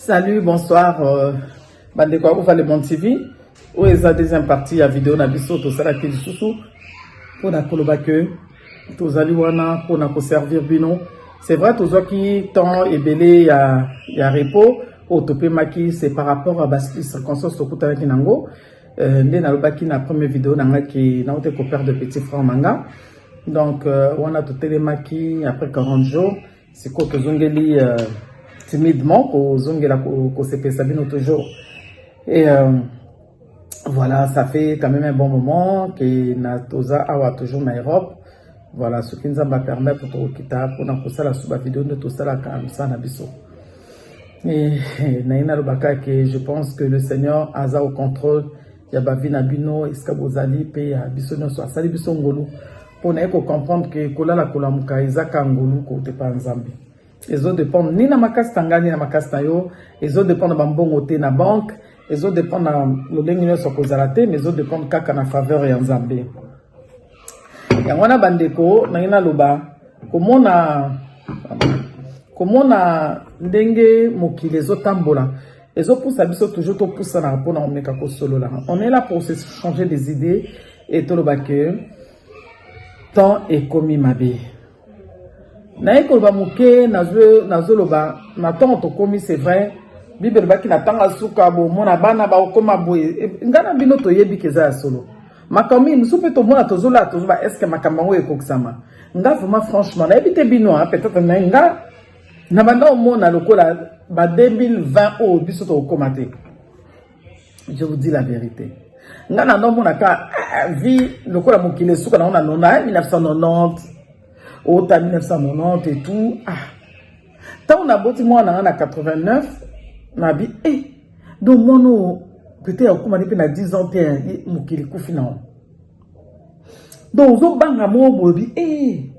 Salut, bonsoir, euh, bandeko ya Uva Le Monde TV. Oyo eza deuxième partie ya video na biso tosalaki lisusu mpo na koloba ke tozali wana mpo na koservir bino. C'est vrai tozwaki temps ebele ya, ya repos oyo topemaki, c'est par rapport à bas circonstances tokutanaki na yango euh, nde nalobaki na premier video na ngai ke naute koperdre petit franc manga donc euh, wana totelemaki après 40 jours Sikoyo tozongeli uh, timidement kozongela kosepesa bino toujours et euh, voilà ça fait quand même un bon moment que na toza awa toujours na Europe voilà soki nzambe apermettre tokokita mpona kosala su bavideo nde tosalaka mosala na biso naye nalobaka ke je pense que le seigneur aza au contrôle ya bavi na bino esika bozali mpe ya biso nyonso asali biso ngolu mpo naye kocomprendre ke kolala kolamuka ezaka ngolu kotepa nzambe ezo dépendre ni na makasi na ngai ni na makasi na yo ezo dépendre bambongo te na banque ezo dépendre na lolenge nyonso kozala te mais ezo dépendre kaka na faveur ya nzambe yango wana bandeko nangi naloba komona komona ndenge mokili ezotambola ezopusa biso toujours topusanaka mpona komeka kosolola on est là pour se changer des idées et toloba que temps ekomi mabe naye koloba moke nazoloba na ntongo tokomi c'est vrai bible elobaki na ntango ya suka bomona bana bakokoma boye e, ngai na bino toyebi ke eza ya solo makambo mingi mosusu mpe tomona tozolaa tozoba estce makambo yango ekokisama nga vraiment franchement nayebi te bino a peut-être na nga na banda omona lokola ba 2020 oyo biso tokokoma te je vous dis la vérité nga na nomona ka eh, vie lokola mokili esuka nango na 1990 ota 1990 et tout ah ntango naboti mwana nga na 89 nabi eh donc mwana oyo peut-être akomani mpe na 10 ans te mokili kufi nango donc ozobanga moko boyebi eh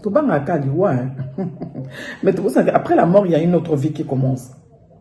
tobangaka liwa mais tokosanaka après la mort il y a une autre vie qui commence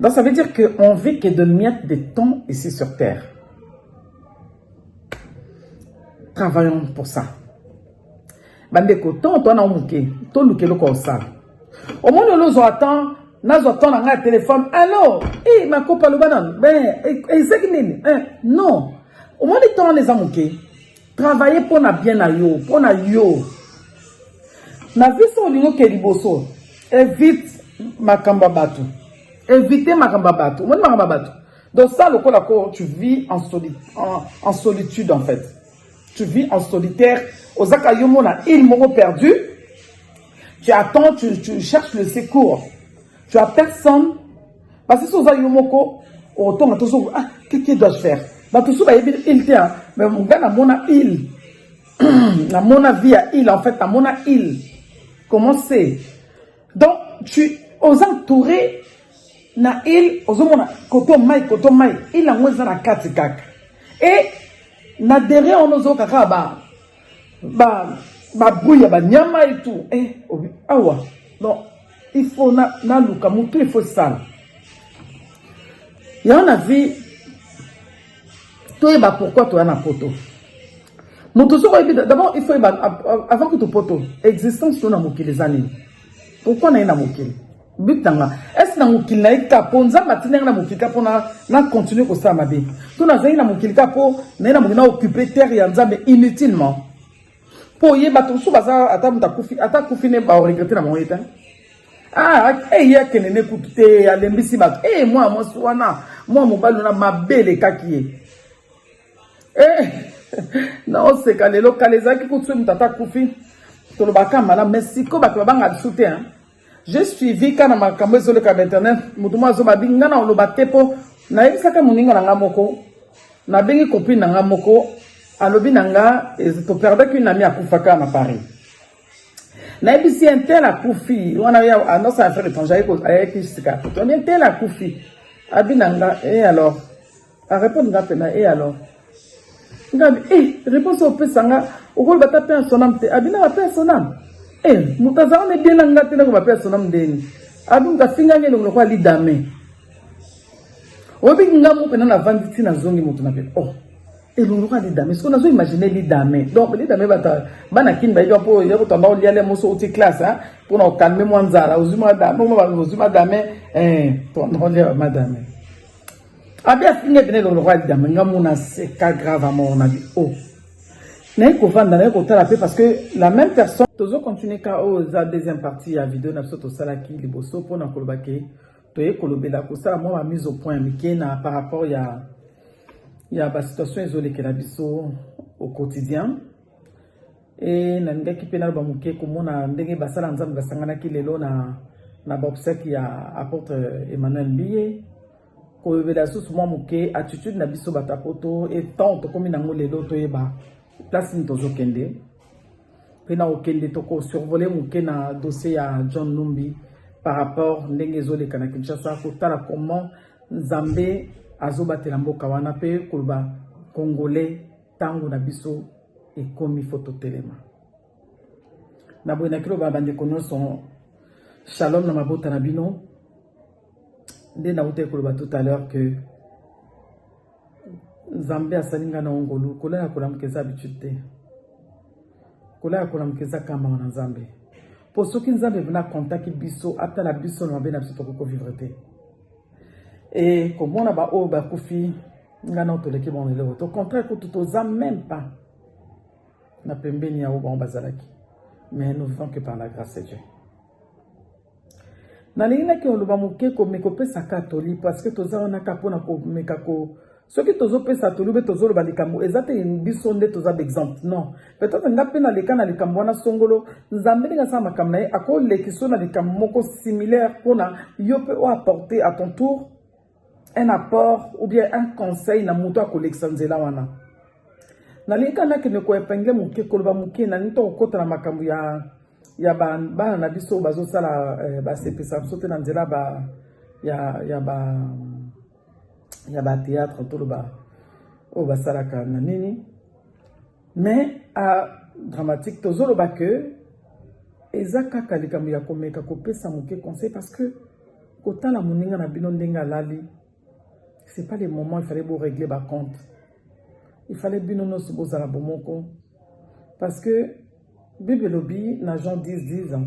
Donc ça veut dire que on vit que de miettes de temps ici sur terre. Travaillons pour ça. Bandeko, tant toi na muke, to luke loko osala. Au moins le lozo attend nazwa temps na ngai ya telefone allo e makopa loba nano ezaki nini non omoni temps wana eza moke Travailler mpo na bien na yo, mpo na yo. Na vie so olingi oke liboso, evite makambo ya bato. Evite makambo ya bato. Omoni makambo ya bato? Donc ça lokola ko tu vis en, soli, en, en solitude en fait. Tu vis en solitaire. Ozaka yo mona il moko perdu. Tu attends, tu, tu cherches le secours. Tu as personne Parce que si oza yo moko otonga tozo ah que que dois faire bato mosusu bayebi il te mais nga namona il namona vie ya il en fait namona il comment c'est donc tu aux entouré na il ozomona koto mai koto mai il yango eza na kati kaka e na derrière wana ozoyoka kaka ba ba babruit ya banyama etu e eh, awa donc il faut na na luka mutu il faut sala yango na vie toyeba pourquoi toya na poto moto soki oyebi d'abord il faut yeba avant kutu poto existence to na mokili eza nini pourquoi naye na mokili but nanga ese na mokili naye kaka mpo nzambe atindaki na mokili kaka mpo na continue kosala mabe to nazali na mokili kaka mpo naye na mokili na occupe terre ya nzambe inutilement Po ye bato mosusu baza ata moto akufi ata akufi ne ba regrette na bango ye te. Ah, eh ye akende ne kutu te alembisi bato. Eh mwa mwasi wana mwa mobali wana mabe elekaki ye. Eh naoseka lelo kala ezalaki kutu soki moto ata akufi tolobaka malamu, mais sikoyo bato babanga lisusu te. Je suivi ka na makambo ezoleka na internet moto moko azoba bi nga na oloba te mpo nayebisaka moninga na nga moko nabengi copine na nga moko alobi na nga toperdaki une ami akufaka na paris nayebisi ye ntel akufi wana annonce ya affaire étranger ayaki sika poto ntel akufi abi na nga e alors A répondre nga pena et alors? Nga bi eh réponse opesa nga okolo bata paix à son âme te abina ba paix à son âme. Eh moto azanga na bien na nga te na ko ba paix à son âme ndeni. Abi moto afinga ngi elongo kwa lidame. Obi nga mo pena na vandi ti na zongi moto na pe. Oh elongo kwa lidame. Siko na zo imaginer lidame. Donc lidame bata bana kin ba yo po ya ko tamba oliale moso uti classe hein pour na calmer mwanzara ozuma dame mo ba ozuma dame eh ton on madame. Abi afinga epine elongo lokola lidama nga mona seka grave à mort na bi o oh. naye kovanda naye kotala mpe parce que la même personne tozo continue ka oyo oh, eza deuxième partie ya video na biso tosalaki liboso mpo na koloba ke toye kolobela kosala mwa ba mise au point ya mike na par rapport ya ya basituation ezolekela biso au quotidien E nalingaki mpe naloba moke komona ndenge basala ya Nzambe basanganaki lelo na, na baobsèque ya apôtre Emmanuel Mbiye kolobela lisusu mwa moke attitude na biso bato ya poto e temps tokomi nango lelo toyeba place nini tozokende mpe na kokende tokosurvole moke na dossier ya John Numbi par rapport ndenge ezoleka na Kinshasa kotala comment Nzambe azobatela mboka wana mpe koloba congolais ntango na biso ekomi fo totelema na boye na kiloba bandeko nyonso shalom na mabota na bino nde nauta ekoloba tout à l'heure que nzambe asali ngai na ongolu kolala kolamuka eza habitude te kolala kolamuka eza kambanga na nzambe mpo soki nzambe vena contaki biso atala biso na mabe na biso tokoki kovivre te e komona baoyo bakufi ngai nao toleki bango eloko to contraire kutu toza meme pas na pembeni ya oyo bango bazalaki mais nous vivons que par la grâce de dieu nalingi naki oloba moke komeka opesaka toli parce que toza wana kaka mpona komeka ko Soki tozo pesa toli be tozo loba likambo eza te biso nde toza ba exemple non peut-être nga pe na leka na likambo wana songolo nzambe ndenge asala makambo na ye ako lekiso na likambo moko similaire pona yo pe o apporter à ton tour un apport ou bien un conseil na moto akolekisa nzela wana nalingi kaka nakende koepingle moke koloba moke nalingi to kokota na makambo ya ya bana na biso bazosala eh, basepesa biso te na nzela ba ya, ya ba ya ba théâtre toloba oyo basalaka na nini mais a dramatique tozoloba que eza kaka likambo ya komeka kopesa moke conseil parce que kotala moninga na bino ndenge alali c'est pas le moment il fallait bo régler ba compte il fallait bino nyonso bozala bomoko parce que bible elobi na jean 10 10 ans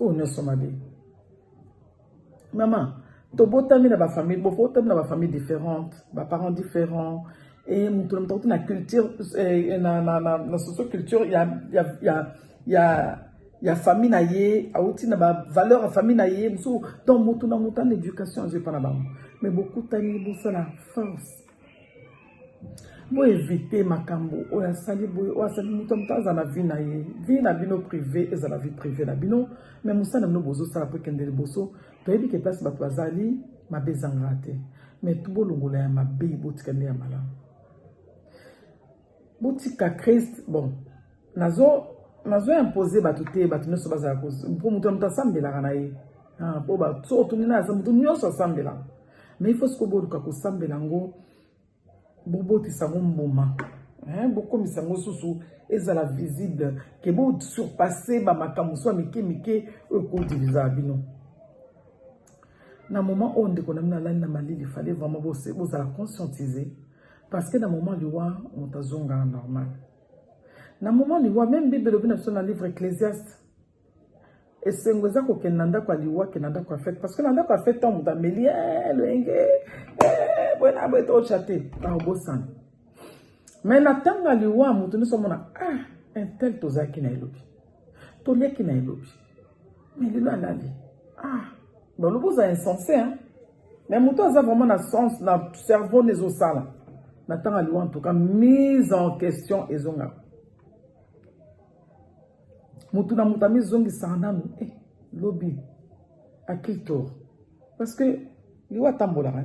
oyo nyonso mabe mama tobotami na bafamille bobotami na bafamille différente baparent différent eye eh, moto na moto akuti na culture eh, na socio culture ya ya ya ya ya famille na ye awuti na bavaleur ya famille na ye mosusu donc motu na motu ana éducation azwi epa na bango mais bokutani bosala force bo éviter makambo oyo asali boye oyo asali moto moto aza na vie na ye vie na bino privé ezala vie privé na bino mais mosala bino bozosala mpo ekende liboso toyebi ke place bato bazali mabe ezangaka te mais bolongola ya mabe botika nde ya malamu Botika Christ bon nazo nazo imposer bato te bato nyonso bazala ko mpo moto na moto asambelaka na ye ah, mpo ba so otungi na asa moto nyonso asambelaka mais il faut sikoyo boluka kosambela yango bobotisa yango mbuma bokomisa yango susu ezala visible ke bosurpasse bamakambo mosusu ya mike mike oyo ekodiviza bino na moment oyo ndeko na bino alali na malili fale vraiment bozala conscientise Parce que na moment liwa moto azonga normal. Na moment liwa même Bible elobi na biso na livre Ecclesiaste esengo eza kokende na ndako ya liwa ke na ndako ya fete parce que na ndako ya fete ntango moto ameli eh, loyenge eh, boye na boye tokotya te bakobosana mais na ntango ya liwa moto nyonso amona ah intel tozalaki na elobi toleki na elobi mais lelo alali ah balobi oza insense hein mais moto aza vraiment na sens na cerveau na ezosala na ntango aliwa en tout cas mise en question ezongaka motu na moto amizongisaka nanu eh, lobi à qui tour parce que liwa atambolaka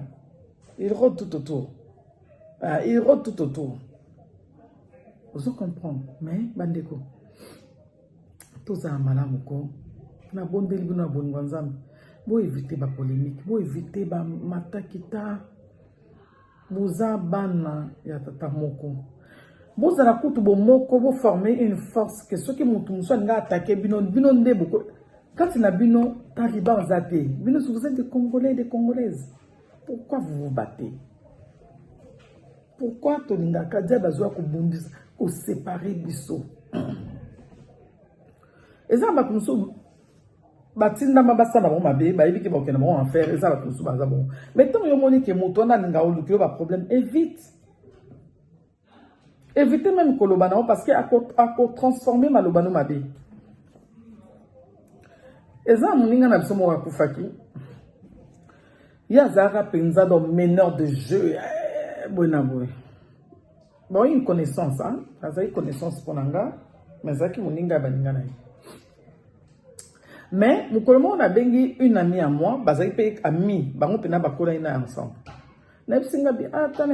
il rode tout autour ah, il rode tout autour ozo comprendre mais bandeko tozala malamu ko nabondeli bino na bolingo ya nzambe boevite bapolemike boevite bamatakita boza bana ya tata moko bozala kutu bomoko boforme une force ke soki motu mosusu alinga atake bino bino nde boko kati na bino taliban aza te bino soki oza de congolais de congolaise pourquoi vous vous battez pourquoi tolingaka diable azwa kobundisa kosepare biso eza na bato mosusu batindama basala bango mabe bayebi ke bakokenda bango enfer eza bato mosusu baza bongo mai ntango yo omoni ke moto wana alinga oluki yo baproblème evite Evitez meme koloba na yo parce que ako, ako transformer maloba no mabe. Eza moninga na biso moko akufaki. Ye azalaka mpenza dans meneur de jeu eh, boye na boye. Bon, une connaissance, hein? azalaki connaissance mpo na nga, mais azalaki moninga ya baninga na ye. Mais mokolo moko nabengi une amie ya moi, bazalaki mpe amie, bango mpe na bakolaki na ensemble. nayebisi nga bi ata ah, na